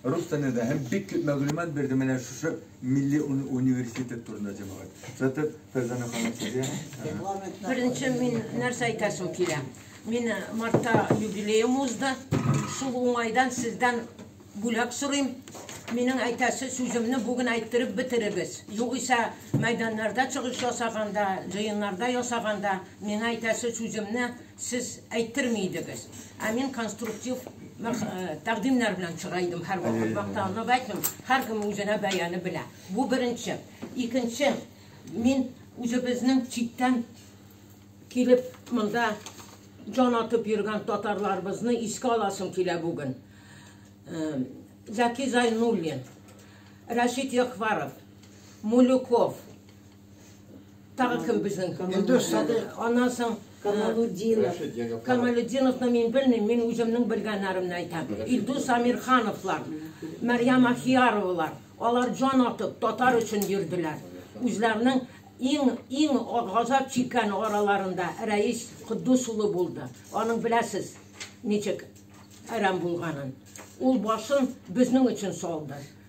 Рус телендә дә һәм бик күп мәгълүмат бирде менә шушы милли университет турында җәмәгать. Сатып Фәрзана ханым сезгә. Беренче мин нәрсә әйтәсем килә. Мин мартта юбилеем узды. Шул уңайдан сездән бүләк сорыйм. Минем әйтәсе сүземне бүген әйттереп бетерегез. Югыйсә мәйданнарда чыгыш ясаганда, җыеннарда ясаганда миңа әйтәсе сүземне Сез әйттерми идегез. Ә мин конструктив тәкъдимнәр белән чыга идем һәрвакыт. Мактанып әйтмим, һәркем үзенә бәяне белә. Бу беренче. Икенче, мин үзебезнең читтән килеп монда җан атып йөргән татарларыбызны искә аласым килә бүген. Зәки Зайнуллин, Рәшит Якваров, Мулюков, Тагы кем безнең? Илдус Садыйк. Аннан соң Камалудинов. Камалудиновны мин белмим, мин үземнең белгәннәремне әйтәм. Илдус Амирхановлар, Мәрьям Ахияровалар, алар җан атып татар өчен йөрделәр. Үзләренең иң иң газап чиккән араларында Рәис Куддус улы булды. Аның беләсез, ничек әрәм булганын. Ул башын безнең өчен салды.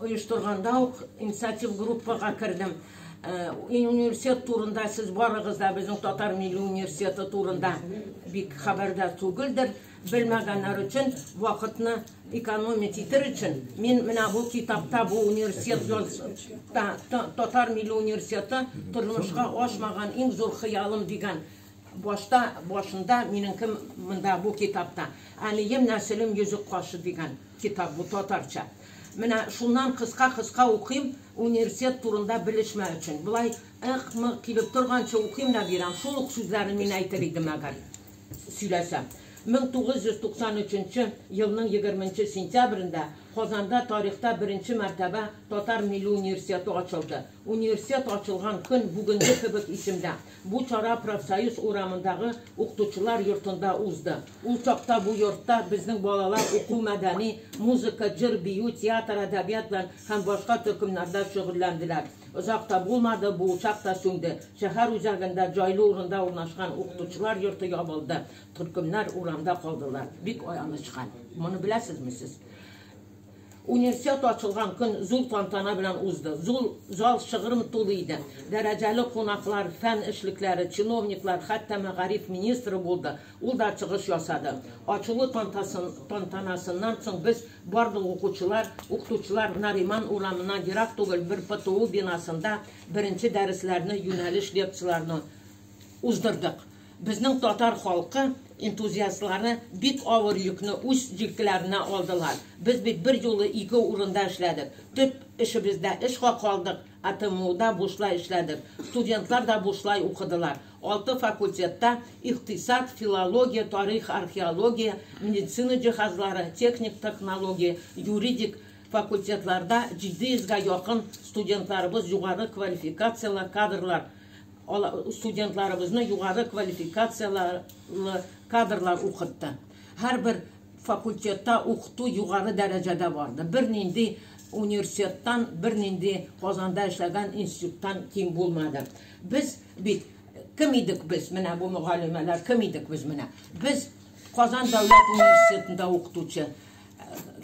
оештырганда ук инициатив группага кердем. Э, университет турында сез барыгыз да безнең татар милли университеты турында бик хәбәрдә түгелдер. Белмәгәннәр өчен вакытны экономить итер өчен мин менә бу китапта бу университет татар милли университеты тормышка ашмаган иң зур хыялым дигән башта башында минем кем монда бу китапта әнием нәселем йөзек кашы дигән Китап бу татарча. Менә шуннан кыска-кыска укыйм, университет турында белешмә өчен. Болай ык-мык килеп торганчы укыйм да бирәм. Шул ук сүзләрен мин әйтер идем, әгәр сөйләсәм. 1993 елның егерменче сентябрендә Казанда тарихта беренче мәртәбә Татар милли университеты ачылды. Университет ачылган көн бүгенге кебек исемдә. Бу чара Профсоюз урамындагы укытучылар йортында узды. Ул чакта бу йортта безнең балалар уку-мәдәни, музыка, җыр-бию, театр-әдәбият белән һәм башка төркемнәрдә шөгыльләнделәр. Озак та булмады, бу учак та сүнде. Шәһәр үзәгендә җайлы урында урнашкан укытучылар йорты ябылды, төркемнәр урамда калдылар. Бик аянычка. Моны беләсезме сез? Универсиада ачылган көн зур тантана белән узды. Зур зал шыгрым тулы иде. Дәрәҗәле кунаклар, фән эшлекләре, чиновниклар, хәтта мәгариф министры булды, ул да чыгыш ясады. Ачылу тантанасыннан соң без барлык укучылар, укытучылар Нариман урамына ерак түгел бер ПТУ бинасында беренче дәресләрне, юнәлеш лекцияләрне уздырдык. Безнең татар халкы энтузиастлары бик авыр йөкне үз җилкеләренә алдылар. Без бит бер юлы ике урында эшләдек. Төп эшебездә эшка калдык, АТМУда бушлай эшләдек. Студентлар да бушлай укыдылар. Алты факультетта, икътисад, филология, тарих, археология, медицина җиһазлары, техник технология, юридик, факультетларда 700 га якын студентларыбыз югары квалификацияле кадрлар. студентларыбызны югары квалификацияле кадрлар укытты. Һәрбер факультетта укыту югары дәрәҗәдә барды. Бернинди университеттан, бернинди Казанда эшләгән институттан ким булмады. Без бит кем идек без? Менә бу мөгаллимәләр кем идек без менә? Без Казан дәүләт университетында укытучы,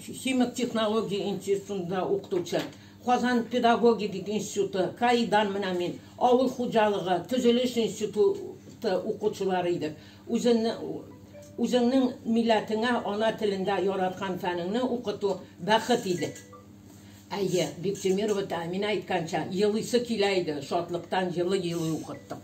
химик технология институтында укытучы, Казан педагогик институты, КАИдан менә мин, авыл хуҗалыгы, төзелеш институты укучылары идек. Үзеңнең милләтеңә ана телендә яраткан фәнеңне укыту, бәхет иде. Әйе, Биктимиров үтә, Әминә әйткәнчә, елыйсы килә иде, шатлыктан елый-елый укыттык.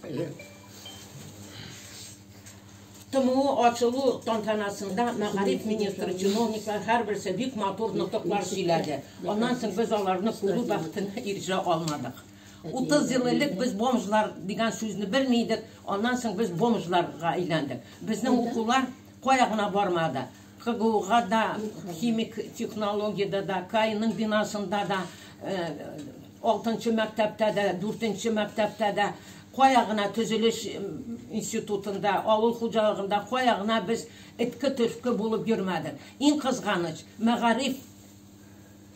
ТМО ачылу тантанасында мәгариф министры, чиновниклар һәрберсе бик матур нотыклар сөйләде. Аннан соң без аларны күрү бәхетенә ирешә алмадык. 30 ел элек без бомжлар дигән сүзне белми идек, аннан соң без бомжларга әйләндек. Безнең укулар кая гына бармады. КГУга да, химик технологиядә дә, КАИның бинасында да, алтынчы мәктәптә дә, дүртенче мәктәптә дә, кая гына төзелеш институтында, авыл хуҗалыгында кая гына без этке-төртке булып йөрмәдек. Иң кызганыч, мәгариф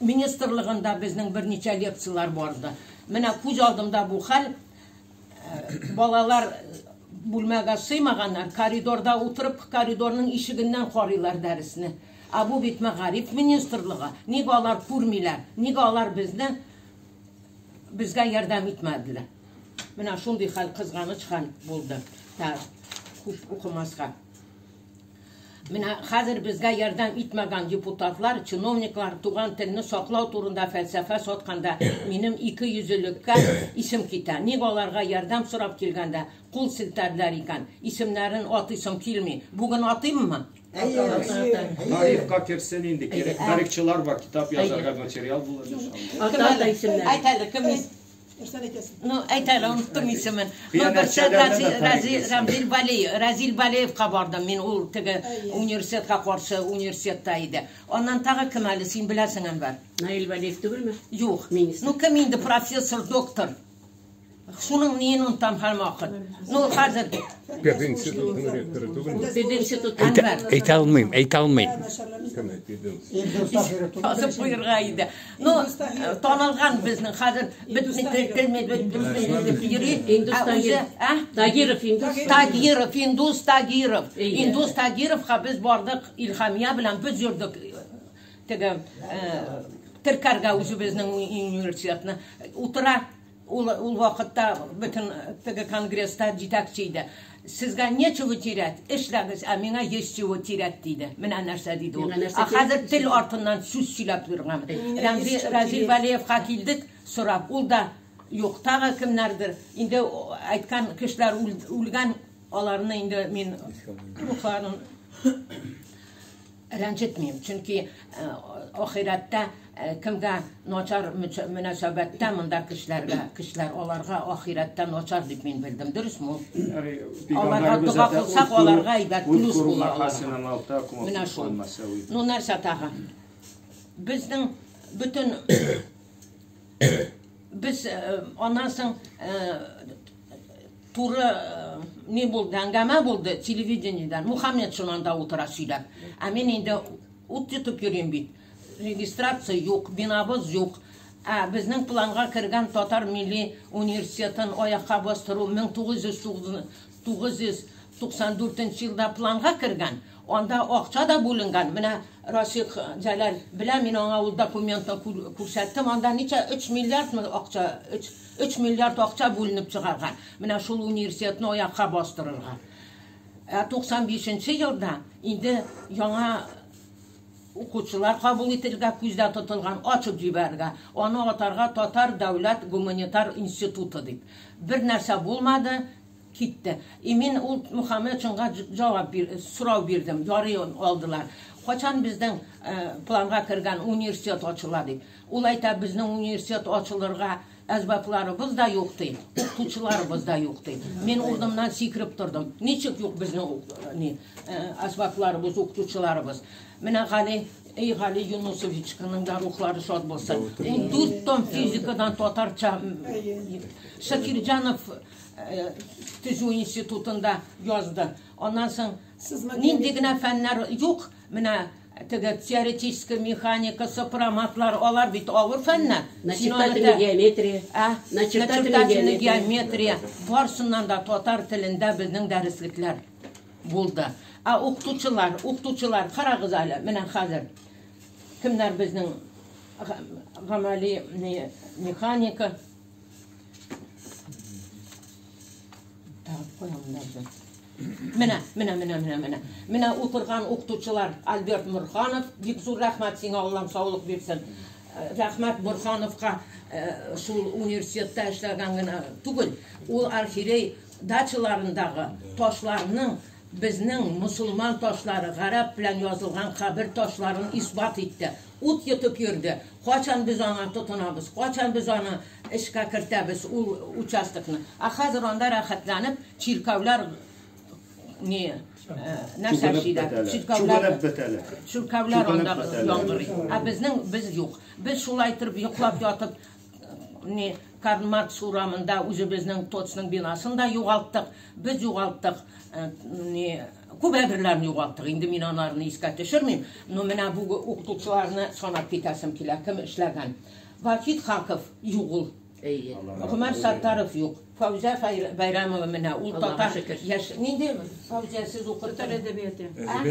министрлыгында безнең берничә лекцияләр барды. Менә күз алдымда бу хәл, балалар бүлмәгә сыймаганнар, коридорда утырып, коридорның ишегеннән карыйлар дәресне. Ә бу бит мәгариф министрлыгы. Ник алар күрмиләр? Ник алар безне безгә ярдәм итмәделәр? Менә шундый хәл кызганыч хәл булды. Та күп укымаска. Менә хәзер безгә ярдәм итмәгән депутатлар, чиновниклар туган телне саклау турында фәлсәфә сатканда, минем икейөзлелеккә исем китә. Ник аларга ярдәм сорап килгәндә кул селтәделәр икән? Исемнәрен атыйсым килми. Бүген атыйммы? Тарихка керсен инде, кирәк. Тарихчылар бар, китап язарга материал булыр иншалла. Ата-ата исемнәре. Әйт әле, кем? Нәрсәне әйтәсең? Ну, әйтә әле, оныттым исемен. Ну, берсе Разил Бали, Разил Балиевка бардым мин, ул теге университетка каршы университетта иде. Аннан тагы кем әле, син беләсең, Әнвәр? Наил Балиев түгелме? Юк. Ну, кем инде профессор, доктор? Шуның ниен онтам һәм вакыт. Ну, хәзер... Педагог институтының ректоры түгел. Педагог институт Әнвәр. Әйтә алмыйм, әйтә алмыйм. Кем әйтә? Язып куйырга иде. Ну, э, танылган безнең хәзер бетми телми бетми йөри. Индус Тагиров. А? Тагиров Индус. Тагиров Индус Тагиров. Индус Тагиров ха без бардык Илхамия белән без йөрдек. Теге э, теркәргә үзебезнең университетны утыра Ул ул вакытта бөтен теге конгресста җитәкче иде. Сезгә нечего терять, эшләгез, ә миңа есть чего терять, диде. Менә нәрсә диде ул. Ә хәзер тел артыннан сүз сөйләп йөргән. Рәмзи Разил Вәлиевка килдек, сорап, ул да юк, тагы кемнәрдер. Инде әйткән кешеләр үлгән, аларны инде мин рухларын Рәнҗетмим, чөнки ахирәттә кемгә начар мөнәсәбәттә монда кешеләргә, кешеләр аларга ахирәттә начар дип мин белдем, дөресме ул? Аларга дога кылсак, аларга әйбәт плюс була аларга. Менә шул. Ну нәрсә тагын? Безнең бөтен без аннан соң Туры ни булды, әңгәмә булды телевидениедән. Мухаммед шунан да утыра сөйләп. Ә мин инде ут йотып йөрим бит. Регистрация юк, бинабыз юк. Ә безнең планга кергән татар милли университетын аякка бастыру 1900 94 елда планга кергән, анда акча да бүленгән. Менә Расих Җәләл белә, мин аңа ул документны күрсәттем. Анда ничә 3 миллиардмы акча, 3 Өч миллиард акча бүленеп чыгарган, менә шул университетны аякка бастырырга. Ә 95 нче елда инде яңа укучылар кабул ителергә күздә тотылган, ачып җибәрергә, аны атарга Татар дәүләт гуманитар институты дип. Бер нәрсә булмады, китте. И мин ул Мөхәммәтшинга җавап бир, сорау бирдем, ярый алдылар. Кайчан безнең планга кергән университет ачыла дип. Ул әйтә, безнең университет ачылырга әсбапларыбыз да юк ди, укытучыларыбыз да юк ди. Мин урынымнан сикереп тордым. Ничек юк безнең ни әсбапларыбыз, укытучыларыбыз? Менә Гали Эй, Гали Юнусовичканың да рухлары шат булсын. Ул дүрт том физикадан татарча Шакирҗанов төзү институтында язды. Аннан соң нинди генә фәннәр юк, Менә теге теоретический механика, сопроматлар, алар бит авыр фәннәр. Начертательный геометрия. Ә, начертательный геометрия. Барсыннан да татар телендә безнең дәреслекләр булды. Ә укытучылар, укытучылар, карагыз әле, менә хәзер. Кемнәр безнең гамәли механика. Так, куям да Менә, менә, менә, менә, менә. Менә утырган укытучылар Альберт Мурханов, бик зур рәхмәт сиңа, Аллам саулык бирсен. Э, рәхмәт Мурхановка э, шул университетта эшләгән генә түгел, ул архирей дачаларындагы ташларның безнең мусулман ташлары гарәп белән язылган кабер ташларын исбат итте. Ут йотып йөрде. Качан без аңа тотынабыз? Качан без аны Эшкә кертәбез ул участокны. Ә хәзер анда рәхәтләнеп чиркәүләр ни нәрсәшиләр, чиркәүләр, чиркәүләр анда яңгырый. Ә безнең без юк. Без шулай итеп йоклап ятып ни Карл Маркс урамында үзебезнең ТОЦның бинасын да югалттык. Без югалттык ни күп әйберләрне югалттык. Инде мин аларны искә төшермим, но менә бу укытучыларны санап китәсем килә, кем эшләгән. Вахит Хаков юк ул. Әйе. Гомәр Саттаров юк. Фаузия Байрамова менә ул татар яшь. Нинди Фаузия сез укыттыгыз? Татар әдәбияты.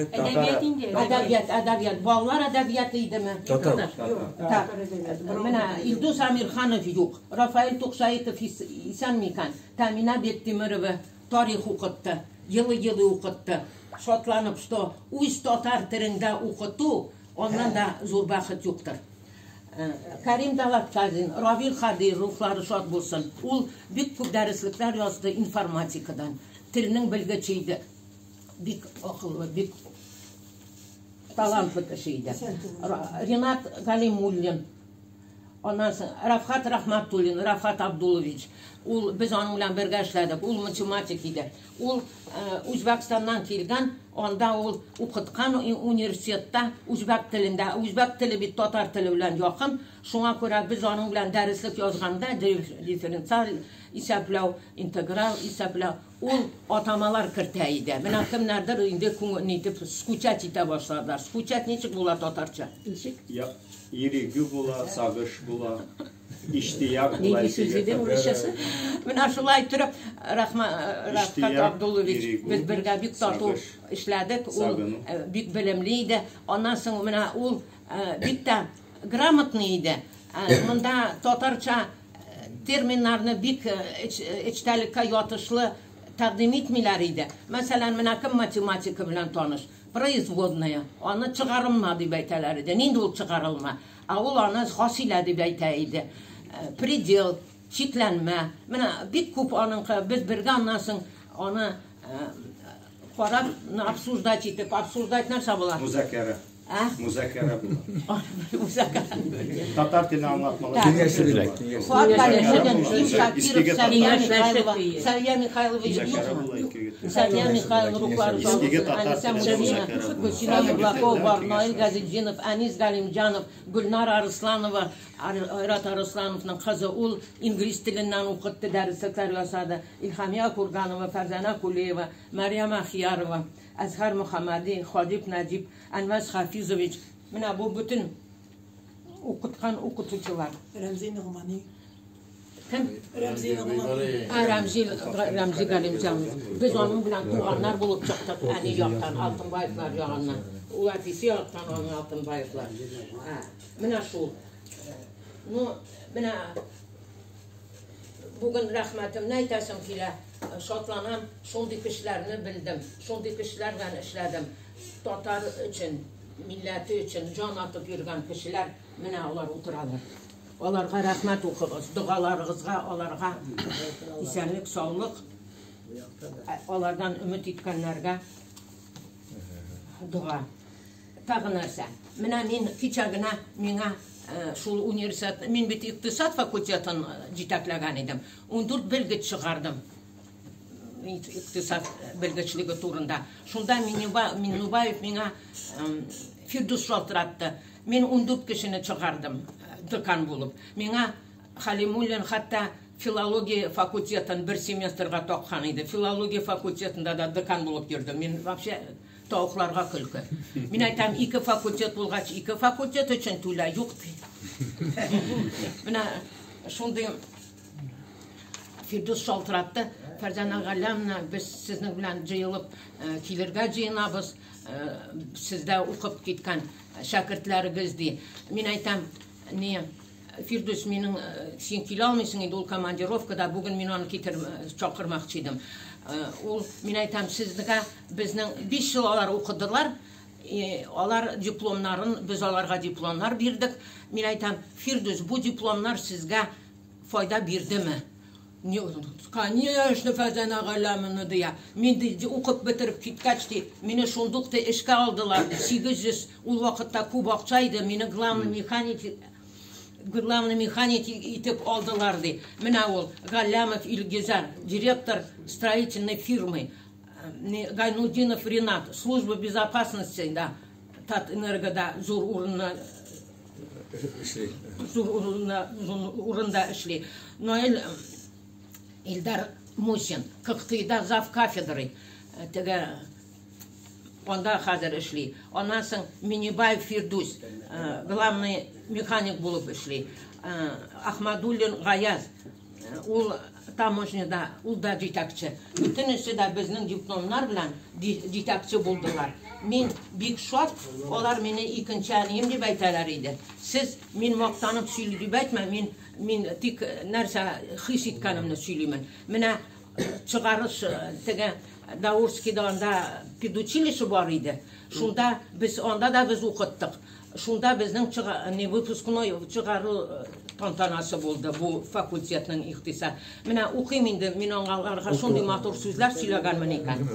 Әдәбият инде. Әдәбият, әдәбият. Балалар әдәбияты идеме? Татар. Так. Менә Илдус Амирханов юк. Рафаэль Тукшаитов исән микән? Тәмина Бектимирова тарих укытты. Елы-елы укытты. Шатланып, что үз татар телендә укыту Аннан да зур бәхет юктыр. Э, Кәрим Далаткадин, Равил Хадый рухлары шат булсын. Ул бик күп дәреслекләр язды информатикадан. Телнең белгече иде. Бик акыллы, бик талантлы кеше иде. Ринат Галимуллин, Аннан соң Рафхат Рахматуллин, Рафхат Абдулович, ул без аның белән бергә эшләдек, ул математик иде. Ул Үзбәкстаннан килгән, анда ул укыткан университетта үзбәк телендә, үзбәк теле бит татар теле белән якын, шуңа күрә без аның белән дәреслек язганда, дифференциаль исәпләү, интеграль исәпләү, Ул атамалар кертә иде. Менә кемнәрдер инде күңел нитеп скучать итә башладылар. Скучать ничек була татарча? Ничек? Я, ирегү була, сагыш була, иштияк була. Нинди сүз иде урысчасы? Менә шулай торып, Рахма, Рахмат Абдулович, без бергә бик тату эшләдек. Ул бик белемле иде. Аннан соң менә ул бик тә грамотный иде. Монда татарча терминнарны бик эчтәлеккә ятышлы тәкъдим итмиләр иде. Мәсәлән, менә кем математика белән таныш? Производная. Аны чыгарылма дип әйтәләр иде. Нинди ул чыгарылма? Ә ул аны хасилә дип әйтә иде. Э, предел, чикләнмә. Менә бик күп аныңкы без бергә аннан соң аны э, карап обсуждать итеп, обсуждать нәрсә була? Музакәра. Музакара була. Татар теле аңлатмалар. Киңәшергә, Сәрия Михайлович Сәрия Михайлов рухлары Гөлсина Яблакова, Наил Газетдинов, Әнис Галимҗанов, Гөлнар Арысланова, Айрат Арыслановның кызы ул инглиз теленнән укытты, дәресләр ясады. Илхамия Курганова, Фәрзәнә Кулиева, Мәриям Ахиярова. Әзһәр Мөхәммәди, Хәбиб Нәҗип, Әнвәс Хафизович, менә бу бөтен укыткан укытучылар. Рәмзи Ногмани. Кем? Рәмзи Ногмани. Ә, Рәмзи, Рәмзи Галимҗанов. Без аның белән туганнар булып чыктык, әни яктан, Алтынбаевлар ягыннан. Ул әтисе яктан аның Алтынбаевлар. Ә, менә шул. Ну, менә Бүген рәхмәтемне әйтәсем килә, шатланам, шундый кешеләрне белдем, шундый кешеләр белән эшләдем. Татар өчен, милләте өчен җан атып йөргән кешеләр менә алар утыралар. Аларга рәхмәт укыгыз, догаларыгызга аларга исәнлек, саулык, алардан өмет иткәннәргә дога. Тагы нәрсә, менә мин кичә генә миңа шул университет, мин бит икътисад факультетын җитәкләгән идем. 14 белгеч чыгардым икътисад белгечлеге турында. Шунда Миннубаев миңа Фирдус шалтыратты. Мин 14 кешене чыгардым декан булып. Миңа Халимуллин хәтта филология факультетын бер семестрга таккан иде. Филология факультетында да декан булып йөрдем. Мин вообще Тавыкларга көлке. Мин әйтәм, ике факультет булгач, ике факультет өчен түлә, юк ди. Менә шундый Фирдус шалтыратты. Фәрзана Галямна, без сезнең белән җыелып э, килергә җыенабыз. Э, сездә укып киткән шәкертләрегез ди. Мин әйтәм, ни, Фирдүс, минең, син килә алмыйсың инде, ул командировкада, бүген мин аны китер, чакырмакчы идем. Ул, мин әйтәм, сезгә безнең биш ел алар укыдылар, алар дипломнарын, без аларга дипломнар бирдек. Мин әйтәм, Фирдүс, бу дипломнар сезгә файда бирдеме? Ни ул, конечно, Фазан ага ла моны дыя. Мин ди, укып бетереп киткәч ди, мине шундук ди эшкә алдылар ди, 800, ул вакытта күп акча иде, мине главный механик, главный механик итеп алдылар ди. Менә ул, Галләмов Илгизәр, директор строительной фирмы, не, Гайнутдинов Ринат, служба безопасности да, Татэнергода зур урынны, эшли. Зур урында, зур урында эшли. Наил Илдар Мусин, Кыктыйда зав кафедры, э, теге анда хәзер эшли. Аннан соң Минибаев Фирдус, э, главный механик булып эшли. Э, Ахмадуллин Гаяз, Ул таможняда, ул да җитәкче. Бөтенесе дә безнең дипломнар белән җитәкче булдылар. Мин бик шат, алар мине икенче әнием дип әйтәләр иде. Сез мин мактанып сөйли дип әйтмә, мин мин тик нәрсә хис иткәнемне сөйлимен. Менә чыгарыш теге Даурскида анда педучилище бар иде. Шунда без анда да без укыттык. Шунда безнең чыга, не выпускной чыгару э, тантанасы булды бу факультетның ихтиса. Менә укыйм инде, мин аңаларга шундый матур сүзләр сөйләгәнмен икән.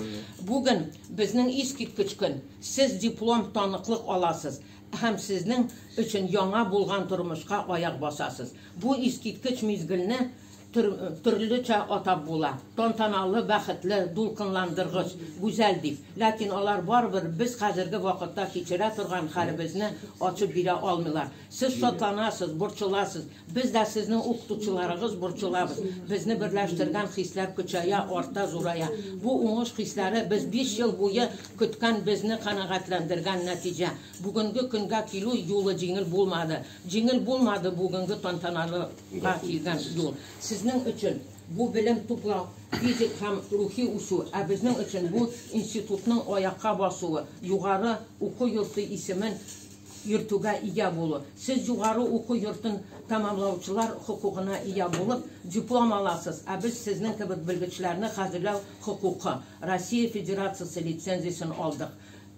Бүген безнең искиткеч көн. Сез диплом таныклык аласыз һәм сезнең өчен яңа булган тормышка аяк басасыз. Бу искиткеч мизгелне төр, төрлечә атап була. Тантаналы, бәхетле, дулкынландыргыч, гүзәл дип. Ләкин алар барыбер без хәзерге вакытта кичерә торган хәлебезне ачып бирә алмыйлар. Сез шатланасыз, борчыласыз. Без дә сезнең укытучыларыгыз борчылабыз. Безне берләштергән хисләр көчәя, арта, зурая. Бу уңыш хисләре без биш ел буе көткән безне канәгатьләндергән нәтиҗә. Бүгенге көнгә килү юлы җиңел булмады. Җиңел булмады бүгенге тантаналыга килгән юл. Сезнең өчен бу белем туплау, физик һәм рухи үсү, ә безнең өчен бу институтның аякка басуы, югары уку йорты исемен йөртүгә ия булу. Сез югары уку йортын тәмамлаучылар хокукына ия булып, диплом аласыз, ә без сезнең кебек белгечләрне хәзерләү хокукы, Россия Федерациясе лицензиясен алдык.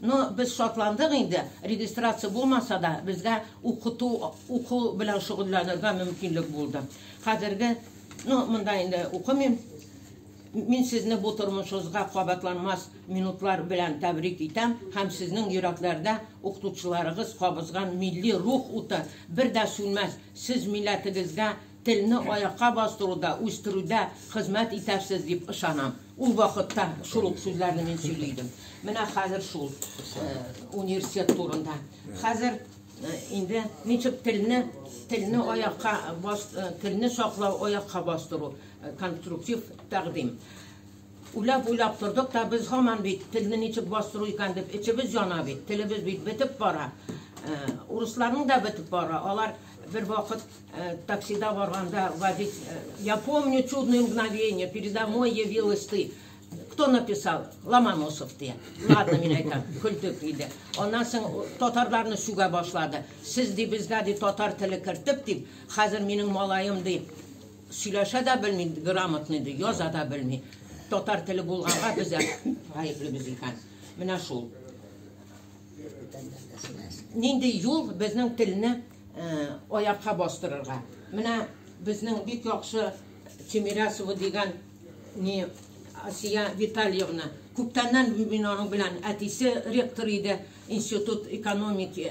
Ну, без шатландык инде, регистрация булмаса да, безгә укыту, уку белән шөгыльләнергә мөмкинлек булды. Хәзерге, ну, монда инде укымыйм. Мин сезне бу тормышыгызга кабатланмас минутлар белән тәбрик итәм һәм сезнең йөрәкләрдә укытучыларыгыз кабызган милли рух уты бер дә сүнмәс. Сез милләтегезгә Телне аякка бастыруда, үстерүдә хезмәт итәрсез дип ышанам. Ул вакытта шул ук сүзләрне мин сөйли идем. Менә хәзер шул университет турында. Хәзер инде ничек телне, телне аякка бас, телне саклау, аякка бастыру конструктив тәкъдим. Уйлап уйлап тордык та без һаман бит телне ничек бастыру икән дип эчебез яна бит. Телебез бит бетеп бара. Урысларның да бетеп бара. Алар бер вакыт Таксида барганда водитель, э, я помню чудное мгновение, передо мной явилась ты. Кто написал? Ломоносов ты. Ладно, мин айтам, күлтүк иде. Аннан соң татарларны сүгә башлады. Сез ди безгә ди татар теле кертеп дип, хәзер минем малаем ди сөйләшә дә белми, грамотный ди, яза да белми. Татар теле булганга без гаепле без икән. Менә шул. Нинди юл безнең телне Аякка бастырырга. Менә безнең бик яхшы Тимирясова дигән ни Асия Витальевна. Күптәннән мин аның белән әтисе ректор иде институт экономики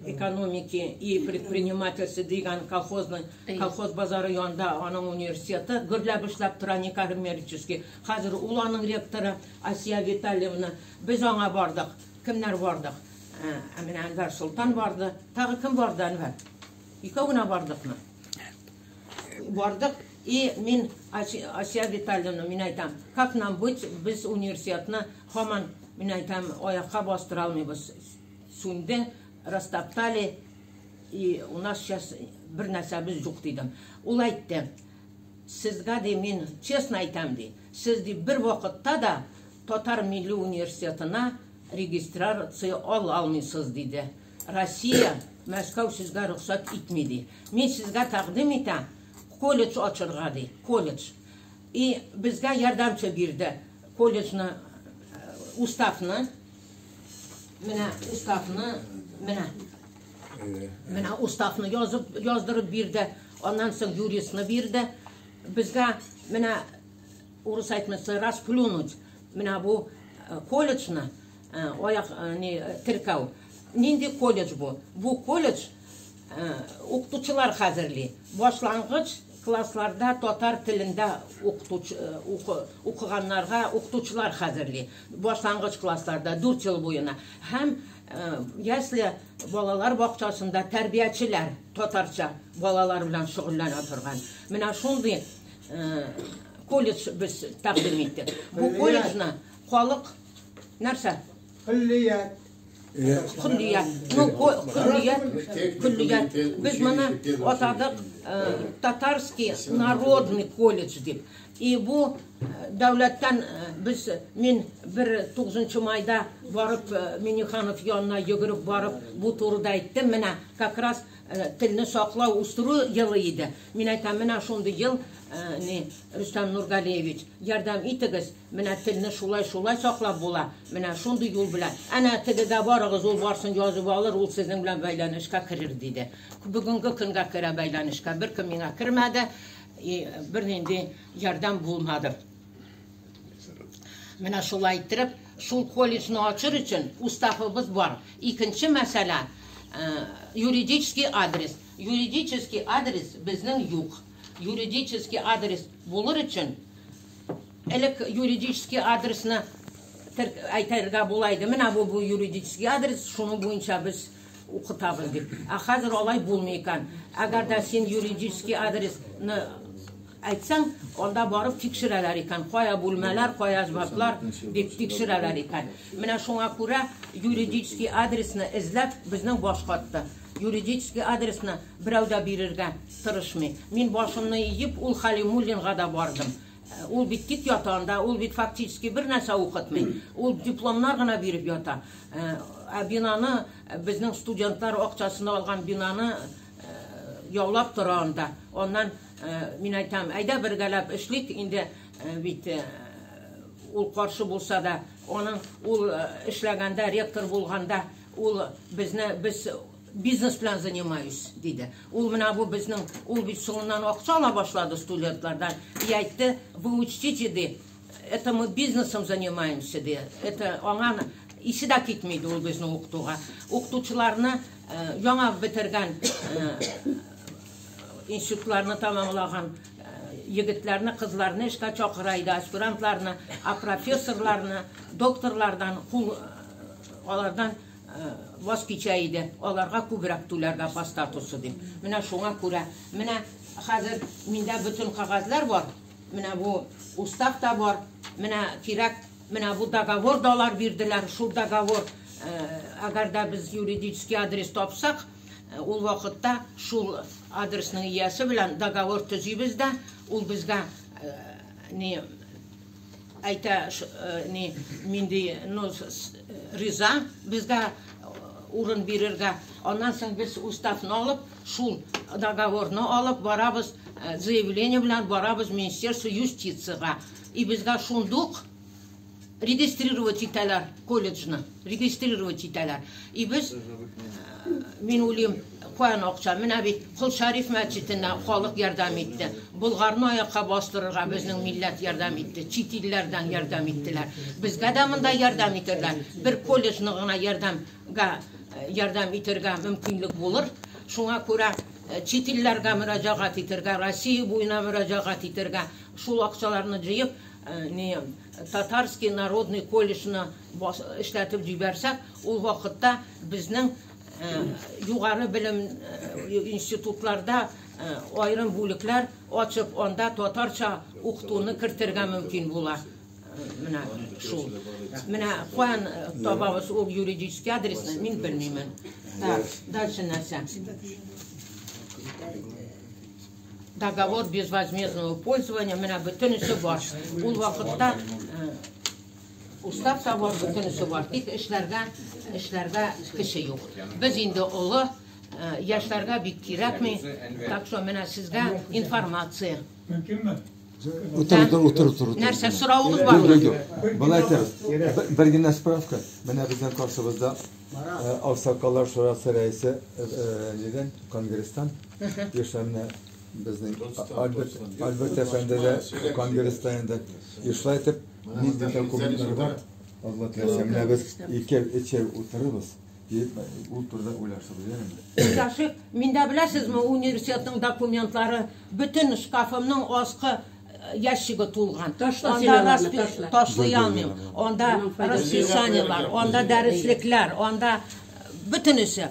экономики и предпринимательства дигән колхозның колхоз базары янында аның университеты гөрләп эшләп тора Никар Мерческий. Хәзер ул аның ректоры Асия Витальевна. Без аңа бардык. Кемнәр бардык? Ә менә Әнвәр Солтан барды. Тагы кем барды, Әнвәр? Икәү генә бардыкмы? Бардык. И мин Асия Витальевна, мин әйтәм, как нам быть, без университетны хаман, мин әйтәм, аякка бастыра алмыйбыз. Сүнде, растоптали, и у нас сейчас бер нәрсәбез юк дидем. Ул әйтте, сезгә ди мин честно әйтәм ди, сез ди бер вакытта да татар милли университетына Регистрация ал алмыйсыз, диде. Россия, Мәскәү сезгә рөхсәт итми, ди. Мин сезгә тәкъдим итәм, колледж ачырга, ди. Колледж. И безгә ярдәмче бирде. Колледжны, уставны, менә уставны, менә. Менә уставны язып, яздырып бирде. Аннан соң юристны бирде. Безгә менә Урыс әйтмәсе, расплюнуть. Менә бу э, колледжны, э, аяк, э, не, теркәү. Нинди колледж бу? Бу колледж укытучылар хәзерли. Башлангыч классларда татар телендә укытучы укыганнарга укытучылар хәзерли. Башлангыч классларда 4 ел буена һәм ясле балалар бакчасында тәрбиячеләр татарча балалар белән шөгыльләнә торган. Менә шундый колледж без тәкъдим иттек. Бу колледжны халык нәрсә? Куллият. Куллият. Ну, куллият, куллият. Без моны атадык татарский народный колледж дип. И бу дәүләттән без мин бер 9 майда барып Миниханов янына йөгереп барып бу турыда әйттем. Менә как раз Телне саклау, үстерү елы иде. Мин әйтәм, менә шундый ел, ни, Рөстәм Нургалиевич, ярдәм итегез, менә телне шулай-шулай саклап була, менә шундый юл белән. Әнә тегегә барыгыз, ул барсын язып алыр, ул сезнең белән бәйләнешкә керер, диде. Бүгенге көнгә керә бәйләнешкә, беркем миңа кермәде, и бернинди ярдәм булмады. Менә шулай иттереп, шул колледжны ачыр өчен уставыбыз бар. Икенче мәсьәлә, э, юридический адрес. Юридический адрес безнең юк. Юридический адрес булыр өчен элек юридический адресны тер- әйтергә була иде. Менә бу бу юридический адрес, шуның буенча без укытабыз дип. Ә хәзер алай булмый икән. Әгәр дә син юридический адресны Әйтсәң, анда барып тикшерәләр икән, кая бүлмәләр, кая җваплар, дип тикшерәләр икән. Менә шуңа күрә юридический адресны эзләп безнең баш катты. Юридический адресны берәү дә бирергә тырышмый. Мин башымны иеп, ул Халимуллинга да бардым. Э, ул бит тик ята анда, ул бит фактически бер нәрсә укытмый. Ул дипломнар гына биреп ята. Э, ә бинаны э, безнең студентлар акчасына алган бинаны яулап тора анда. Аннан Мин айтам, әйдә бергәләп эшлик, инде бит ул каршы булса да, аның ул эшләгәндә, ректор булганда, ул безне без бизнес белән занимаюсь, диде. Ул менә бу безнең, ул бит соңыннан акча ала башлады студентлардан. И әйтте, вы учтите, ди, это мы бизнесом занимаемся, ди. Это аңа исе дә китми, ди, ул безне укытуга. Укытучыларны яңа бетергән институтларны тәмамлаган егетләрне, кызларны эшкә чакыра иде, аспирантларны, а профессорларны, докторлардан кул алардан ваз кичә иде. Аларга күбрәк түләргә по статусу дип. Менә шуңа күрә, менә хәзер миндә бөтен кагазьләр бар. Менә бу устав та бар. Менә кирәк, менә бу договор да алар бирделәр. Шул договор, әгәр дә без юридический адрес тапсак, Ул вакытта шул адресның иясе белән договор төзибез дә, ул безгә ни әйтә, ни минди ну риза безгә урын бирергә. Аннан соң без уставны алып, шул договорны алып барабыз, заявление белән барабыз Министерство юстициягә. И безгә шундук Регистрировать итәләр колледжны, регистрировать итәләр. И без, мин уйлыйм, куән акча, менә бит Кол Шәриф мәчетенә халык ярдәм итте. Болгарны аякка бастырырга безнең милләт ярдәм итте. Чит илләрдән ярдәм иттеләр. Безгә дә монда ярдәм итерләр. Бер колледжны гына ярдәмгә ярдәм итергә мөмкинлек булыр. Шуңа күрә чит илләргә мөрәҗәгать итергә, Россия буена мөрәҗәгать итергә, шул акчаларны җыеп, Ни, Татарский народный колледжны эшләтеп җибәрсәк, ул вакытта безнең югары белем институтларда аерым бүлекләр ачып, анда татарча укытуны кертергә мөмкин була. Менә шул. Менә каян табабыз ул юридический адресны, мин белмимен. Так, дальше нәрсә? Договор безвозмездного пользования менә бөтенесе бар. Ул вакытта э, устав табар бөтенесе бар. Тик эшләргә эшләргә кеше юк. Без инде олы э, яшьләргә бик кирәкми. Так что менә сезгә информация. Мөмкинме? Утыр, утыр, утыр, утыр. Нәрсә сорауыгыз бармы? Юк, юк. Былай итәбез. Б- Бер генә справка. Менә безнең каршыбызда э, Аксакаллар шурасы рәисе э, э, нидән, конгресстан Яшьләрне безнең Альберт, Альберт әфәнде дә конгресста инде ешла итеп ник документлар бар. Алла теләсә менә без икәү, өчәү утырырбыз. Ул турыда уйлашып йөрәм. Яшик, миндә беләсезме, университетның документлары бөтен шкафымның аскы ящиге тулган. Ташлый алмыйм. Анда расписаниелар, анда дәреслекләр, анда бөтенесе.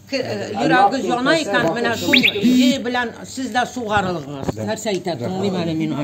Йөрәге яна икән, менә шул җөе белән сез дә сугарылыгыз. Нәрсә әйтә, тыңлыйм әле мин аны.